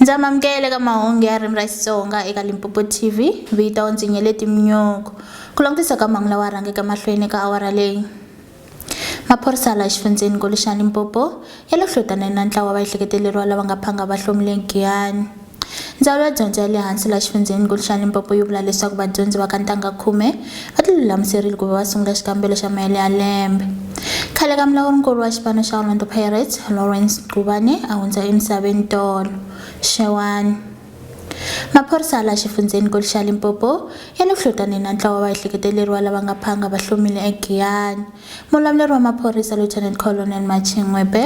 Ndza mamukela eka mahungu ya ririmi ra Xitsonga eka Limpopo TV. Vito ndzi Nyeleti Mnyoko. Ku langutisa ka mahungu lawa rhangeke mahlweni eka awara leyi. Maphorisa la xifundzeni Goli xa Limpopo ya le hlotaneni na ntlawa va ehleketeleriwa lava nga phanga va hlomile Giyani. Ndzawulo ya dyondzo ya le hansi la xifundzeni Goli xa Limpopo yi vula leswaku vadyondzi va ka ntangha khume va ti lulamiserile ku va va sungula xikambelo xa mahele ya lembe khale ka mulawurinkulu wa xipano xa orlando pirates lawrence gubane a hundza emisaveni tolo xewani maphorisa la xifundzheni kulu xa limpopo ya le ku hlotaneni na ntlawa wa vahleketeleriwa lava nga phanga va hlomile egiyani Mulamuleri wa maphorisa Lieutenant Colonel Marching Ngwebe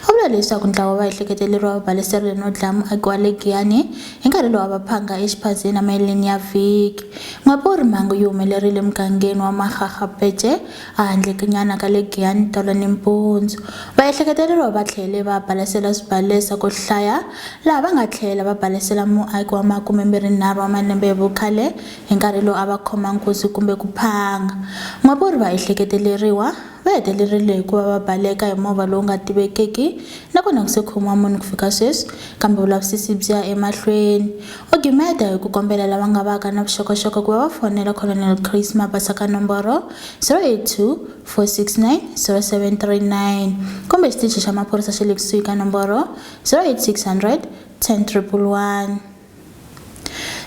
u vule leswaku ntlawa wa ehleketeleriwa va baleseriwile no dlaya muaki wa le Giyani hi nkarhi lowa va phanga exiphazeni emaheleni ya vhiki. Ngwebe u ri mhangu yi humelerile emugangeni wa Mahaha Pece a handlekenyana ka le Giyani tolo nimpundzu. Vaehleketeleriwa va tlhele va balesela swibalesa ku hlaya laha va nga tlhela va balesela muaki wa makumembirhinharhu wa malembe hi vukhale Hi nkarhi lowu a va khoma nkuzi kumbe ku phanga. N'wavurhi va ehleketeleriwa, va hetelerile hi ku va va baleka hi movha lowu nga tivekiki na kona ku se khomiwa munhu ku fika sweswi, kambe vulavisisi byi ya emahlweni. U gimeta hi ku kombela lava nga vaka na vuxokoxoko ku va va fonela Colonel Chris Mabasa ka nomboro 082 469 0739 kumbe xitichi xa maphorisa xa le kusuhi ka nomboro 08600 10111.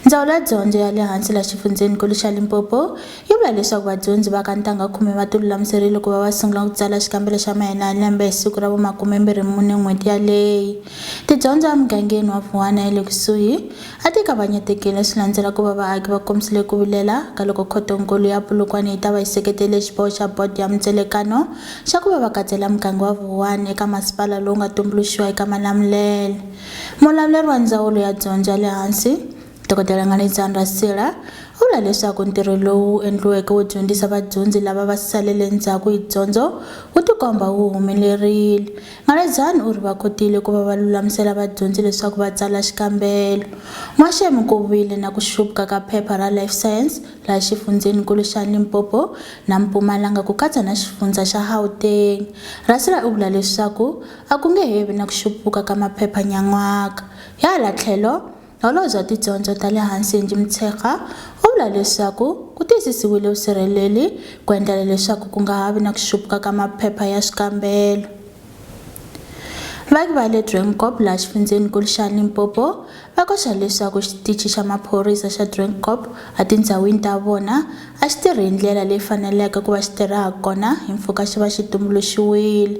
Ndzawulo ya Dyondzo ya le Hansi la Xifundzheni-kulu xa Limpopo yi vula leswaku vadyondzi va ka ntangha khume va tilulamiserile ku va va sungula ku tsala xikambelo xa mahina ya lembe hi siku ra vu makumembirhi mune n'hweti yaleyi. Tidyondzo emugangeni wa Vuwana ya le kusuhi a ti kavanyetekile swi landzela ku va vaaki va kombisile ku vilela ka loko Khoto-nkulu ya Polokwane yi ta va yi seketele xiboho xa bodo ya mintselekano xa ku va va katsela muganga wa Vuwani eka masipala lowu nga tumbuluxiwa eka Malamulele. Mulavuleri wa Ndzawulo ya Dyondzo ya le Hansi, Dokodela Nganedzani Rasila, u vula leswaku ntirho lowu wu endliweke wo dyondzisa vadyondzi lava va salele ndzhaku hi dyondzo wu tikomba wu humelerile. Nganedzani u ri va kotile ku va va lulamisela vadyondzi leswaku va tsala xikambelo. N'waxemu ku vile na ku xupka ka phepha ra Life Science laha xifundzheni-nkulu xa Limpopo na Mpumalanga ku katsa na xifundzha xa Gauteng. Rasila u vula leswaku A ku nge he vi na ku xupuka ka maphepha nyan'waka. Hi hala tlhelo, Holobye wa Tidyondzo ta le Hansi Angie Motshekga u vula leswaku ku tiyisisiwile vusirheleli ku endlela leswaku ku nga ha vi na ku xupuka ka maphepha ya swikambelo. Vaaki va le Drinkop laha xifundzheni-nkulu xa Limpopo Va koxa leswaku Xitichi xa Maphorisa xa Drinkop etindhawini ta vona a xi tirhi hi ndlela leyi faneleke ku va xi tirha ha kona hi mpfhuka xi va xi tumbuluxiwile.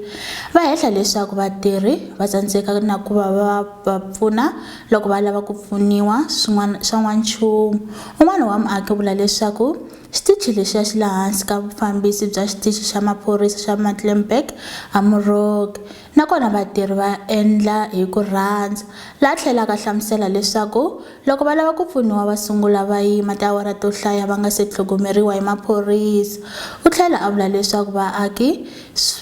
Va hehla leswaku vatirhi va tsandzeka na ku va va va pfuna loko va lava ku pfuniwa swin'wana swa n'wanchumu. Un'wana wa muaki u vula leswaku xitichi lexiya xi le hansi ka vufambisi bya Xitichi xa Maphorisa xa Muttleburg eMoroki. Nakona vatirhi va endla hi ku rhandza. La a tlhelaka a hlamusela leswaku loko va lava ku pfuniwa va sungula va yima tiawara to hlaya va nga se tlhogomeriwa hi maphorisa. U tlhela a vula leswaku vaaki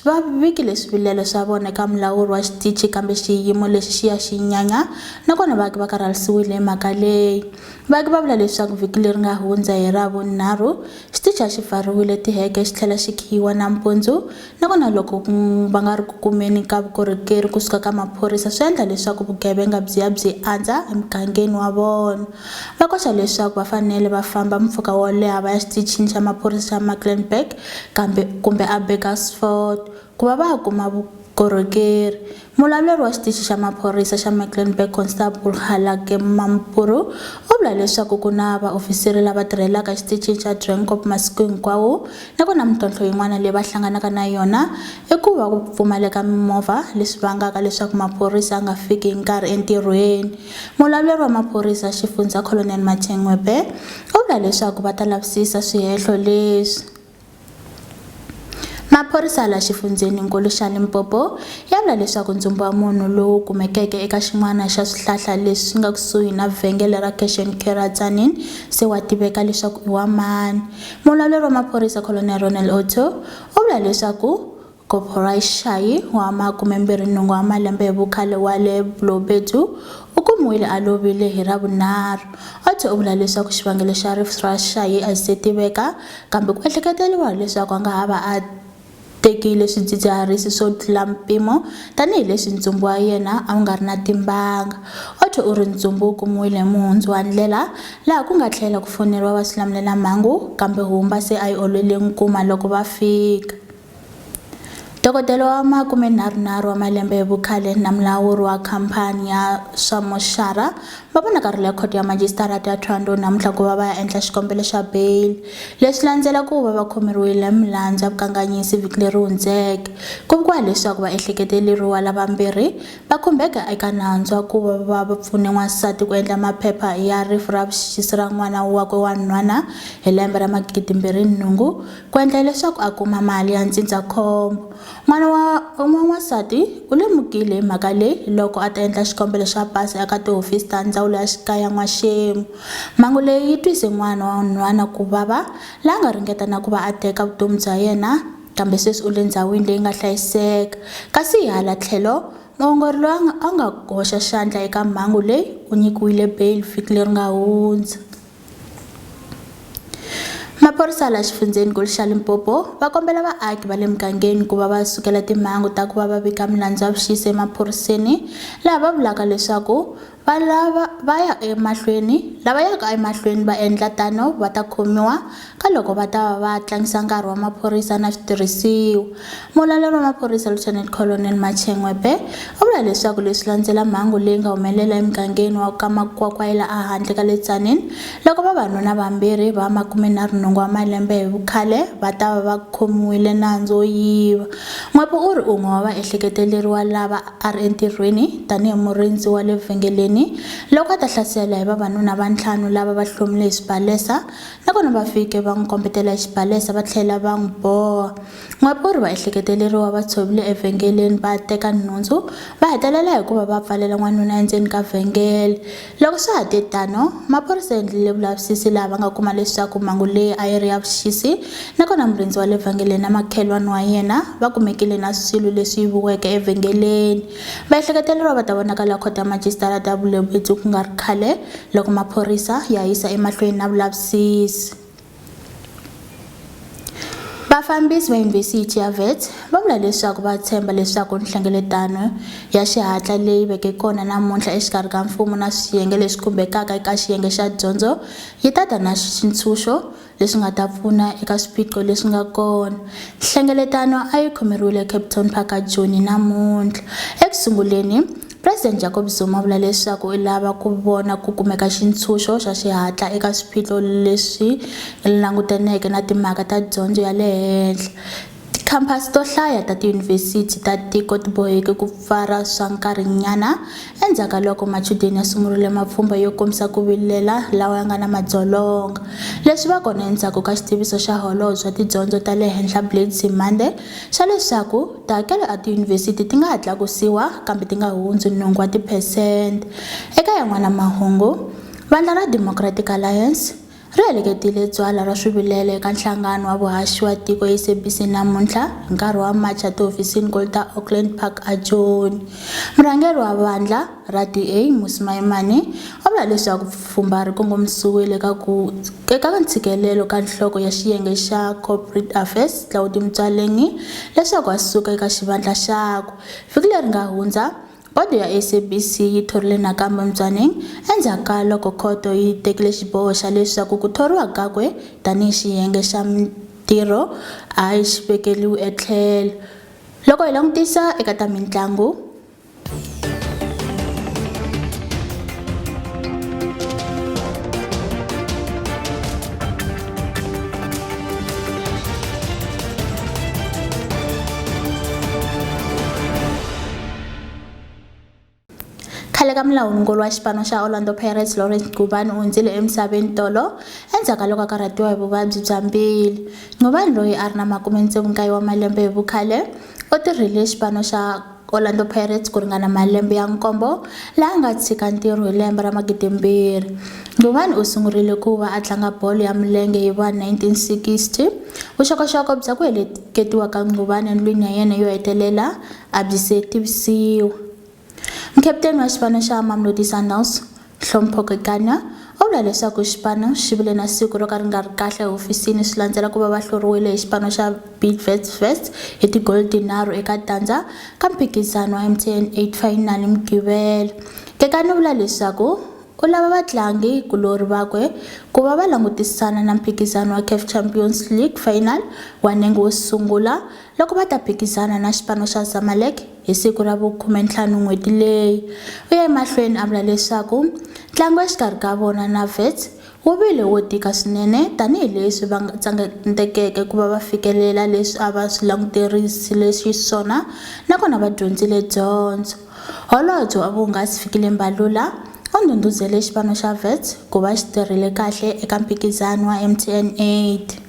va vikile swivilelo swa vona eka mulawuri wa xitichi kambe xiyimo lexi xi ya xi nyanya nakona vaaki va karhalisiwile hi mhaka leyi. Vaaki va vula leswaku vhiki leri nga hundza hi Ravunharhu, xitichi a xi pfariwile tiheke xi tlhela xi khiyiwa nampundzu Na vona loko va nga ri ku kumeni ka vukorhokeri ku suka ka maphorisa swi endla leswaku vugevenga byi ya byi andza emugangeni wa vona. Va koxa leswaku va fanele va famba mpfhuka wo leha va ya Xitichini xa Maphorisa xa Mucklenburg kambe kumbe eBurgersfort ku va va kuma vukorhokeri. Mulawuleri wa xitichi xa maphorisa xa Mecklenburg Constable Halake Mampuru u vula leswaku ku na vaofisiri lava tirhelaka exitichini xa Drinkop masiku hinkwawo nakona mintlhontlho yin'wana leyi va hlanganaka na yona i ku va ku pfumaleka mimovha leswi vangaka leswaku maphorisa a nga fiki hi nkarhi entirhweni. Mulawuleri wa maphorisa xifundzha Colonel Mathengwepe u vula leswaku va ta lavisisa swihehlo leswi. Maphorisa la xifundzheni-nkulu xa Limpopo ya vula leswaku ndzumba wa munhu lowu kumekeke eka xin'wana xa swihlahla leswi swi nga kusuhi na vhengele ra Cash and Carry ra Tzaneen se wa tiveka leswaku i wa mani. Mulawuri wa maphorisa Colonel Ronel Otto u vula leswaku Koporayixayi wa makumembirhinhungu wa malembe hi vukhale wa le Blobedu u kumiwile a lovile hi Ravunharhu. Otto u vula leswaku xivangelo xa rifu ra Shayi a xi se tiveka, kambe ku ehleketeriwa leswaku a nga ha va a tekile swidzidziharisi swo tlula mpimo tanihi leswi ntsumbu wa yena a wu nga ri na timbanga. Otto u ri ntsumbu wu kumiwile hi muhundzu wa ndlela laha ku nga tlhela ku foneriwa vaswilamulelamhangu, kambe Humba se a yi olwele nkuma loko va fika. Dokodela wa makumenharhunharhu wa malembe hi vukhale na mulawuri wa khampani ya swa moxara va vonakarhile khoto ya majisitarata ya Thohoyandou namuntlha ku va va ya endla xikombelo xa bail leswi landzela ku va va khomeriwile milandzu ya vukanganyisi vhiki leri hundzeke ku vikiwa leswaku va ehleketeleriwa lavambirhi va khumbeka eka nandzu wa ku va va va pfune n'wansati ku endla maphepha ya rifu ra vuxisi ra n'wana wakwe wa nhwana hi lembe ra magidi mbirhi nhungu Ku endla leswaku a kuma mali ya ndzindzakhombo, n'wana wa n'wanwansati u lemukile hi mhaka leyi loko a ta endla xikombelo xa pasi eka tihofisi ta Ndzawulo ya Xikaya n'waxemu. Mhangu leyi yi twise n'wana wa nhwana ku vava, la nga ringeta na ku va a teka vutomi bya yena, kambe sweswi u le ndzhawini leyi nga hlayiseka. Kasi hi hala tlhelo, muongori loyi a nga a nga hoxa xandla eka mhangu leyi u nyikiwile beyili vhiki leri nga hundza. Maphorisa la xifundzhenikulu xa Limpopo va kombela vaaki va le mugangeni ku va va sukela timhangu ta ku va va vika milandzu ya vuxisi emaphoriseni laha va vulaka leswaku va lava va ya emahlweni lava yaka emahlweni va endla tano va ta khomiwa Ka loko va ta va va tlangisa nkarhi wa maphorisa na switirhisiwa, muvulavuri wa maphorisa Lieutenant Colonel Machengwe Bhe u vula leswaku leswi landzela mhangu leyi nga humelela emugangeni wa ka Makwakwayela a handle ka le Tzaneen loko vavanuna vambirhi va makume na runhungu wa malembe hi vukhale va ta va va khomiwile nandzu wo yiva. N'wepu u ri un'we wa vaehleketeleriwa lava a ri entirhweni tanihi murindzi wa le vhengeleni loko a ta hlasela hi vavanuna va ntlhanu lava va hlomile hi swibalesa Hi kona va fike va n'wi kombetela hi xibalesa va tlhela va n'wi boha. N'wapurhi va ehleketeleriwa va tshovile evhengeleni va teka nhundzu, va hetelela hi ku va va pfalela n'wanuna endzeni ka vhengele. Loko swa ha te tano, maphorisa ya endlile vulavisisi laha va nga kuma leswaku mhangu leyi a yi ri ya vuxisi nakona murindzi wa le vhengeleni na makhelwani wa yena va kumekile na swilo leswi yiviweke evhengeleni. Vaehleketeleriwa va ta vonakala Khoto ya Majisitarata ya Bulebetsu ku nga ri khale loko maphorisa ya yisa emahlweni na vulavisisi. Vafambisi va Yunivhesiti ya Wits va vula leswaku va tshemba leswaku nhlengeletano ya xihatla leyi veke kona namuntlha exikarhi ka mfumo na swiyenge leswi khumbekaka eka xiyenge xa dyondzo yi ta ta na xitshunxo leswi nga ta pfuna eka swiphiqo leswi nga kona. Nhlengeletano a yi khomeriwile eCapetown Park a Joni namuntlha. Eku sunguleni, President Jacob Zuma u vula leswaku u lava ku vona ku kumeka xintshunxo xa xihatla eka swiphiqo leswi langutaneke na timhaka ta dyondzo ya le henhla, Tikhamphasi to hlaya ta tiyunivhesiti ta tiko ti boheke ku pfara swa nkarhinyana endzhaku ka loko machudeni ya sungurile mapfhumba yo kombisa ku vilela lawa ya nga na madzolonga. Leswi va kona endzhaku ka xitiviso xa Holobye wa Tidyondzo ta le Henhla Blade Nzimande xa leswaku tihakelo a tiyunivhesiti ti nga ha tlakusiwa kambe ti nga hundzi nhungu wa tiphesente. Eka yan'wana mahungu, vandla ra Democratic Alliance, ri heleketile tsalwa ra swivilelo eka nhlangano wa vuhaxi wa tiko SABC namuntlha hi nkarhi wa macha tihofisini ko ta Auckland Park eJoni. Murhangeri wa vandlha ra DA Mmusi Maimane u vula leswaku pfhumba ri kongomisiwile eka ku eka ntshikelelo ka nhloko ya xiyenge xa Corporate Affairs Claude Mtswaleni leswaku a suka eka xivandla xakwe. Vhiki leri nga hundza Bodo ya SABC yi thorile nakambe Mtswaneng endzhaku ka loko khoto yi tekile xiboho xa leswaku ku thoriwa kakwe tanihi xiyenge xa mintirho a xi vekeriwi etlhelo. Loko hi langutisa eka ta mintlangu, khale ka mulawurinkulu wa xipano xa orlando pirates lawrence gubani u hundzile emisaveni tolo endzhaku ka loko a karhatiwa hi vuvabyi bya mbili gubani loyi a ri na makume ntsevu nkaye wa malembe hi vukhale u tirhile xipano xa orlando pirates ku ringana malembe ya nkombo laha nga tshika ntirho hi lembe ra magidimbirhi gubani u sungurile ku va a tlanga bolo ya milenge hi va 1960 vuxokoxoko bya ku heleketiwa ka gubani endlwini ya yena yo hetelela a byi se tivisiwa. Mukaputeni wa xipano xa Mamelodi Sundowns, Hlompho Kekana, u vula leswaku xipano xi vile na siku ro ka ri nga ri kahle ehofisini swi landzela ku va va hluriwile hi xipano xa Bidvest Wits hi tigoli tinharhu eka tandza ka mphikizano wa MTN 8 Final hi Mugqivela. Kekana u vula leswaku u lava vatlangi kulorhi vakwe ku va va langutisana na mphikizano wa CAF Champions League Final wa nenge wo sungula loko va ta phikizana na xipano xa Zamalek hi siku ra vu-15 n'hweti leyi. U ye emahlweni a vula leswaku ntlangu exikarhi ka vona na Wits wu vile wo tika swinene tanihi leswi va tsandzekeke ku va va fikelela leswi a va swi languterisile xiswona nakona va dyondzile dyondzo. Holobye wa Vuhungasi Fikile Mbalula u ndhundhuzele xipano xa Wits ku va xi tirhile kahle eka mphikizano wa MTN 8.